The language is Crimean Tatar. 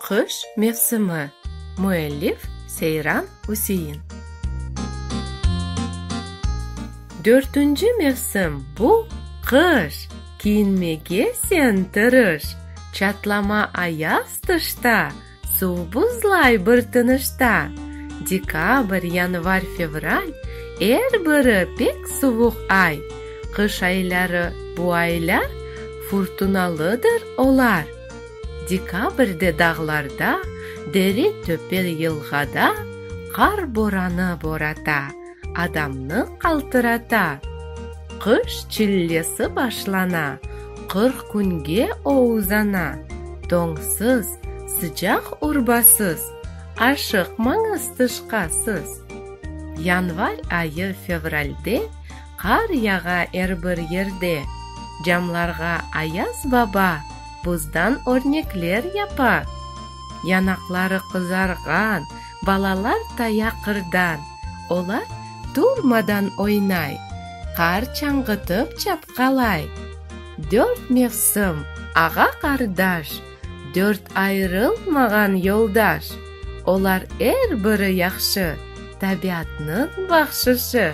Qış mevsimi. Müellif, Seyran Üsein. Dörtünci mevsim, bu, qış! Kiyinmege sen tırış! Çatlama ayaz tışta. Suv buzlay bir tınışta. Dekabr, yanvar, fevral, Er biri pek suvuq ay. Qış ayları, bu aylar, Furtunalıdır olar. Dekabrde dağlarda, Dere-töpe-yılğada Qar boranı borata. adamnı qaltırata. Qış çillesi başlana, qırq künge o uzana, doñsız, sıcaq urbasız, aşıqmañız tışqasız. Yanvar ayı fevralde qar yağa er bir yerde, camlarğa Ayaz baba buzdan örnekler yapa. Yanaqları qızarğan balalar taya qırdan. Olar turmadan oynay, Qar çañğıtıp çapqalay. Dört mevsim, ağa-qardaş, Dört ayırılmağan yoldaş. Olar er biri yahşı, Tabiatnıñ bahşışı.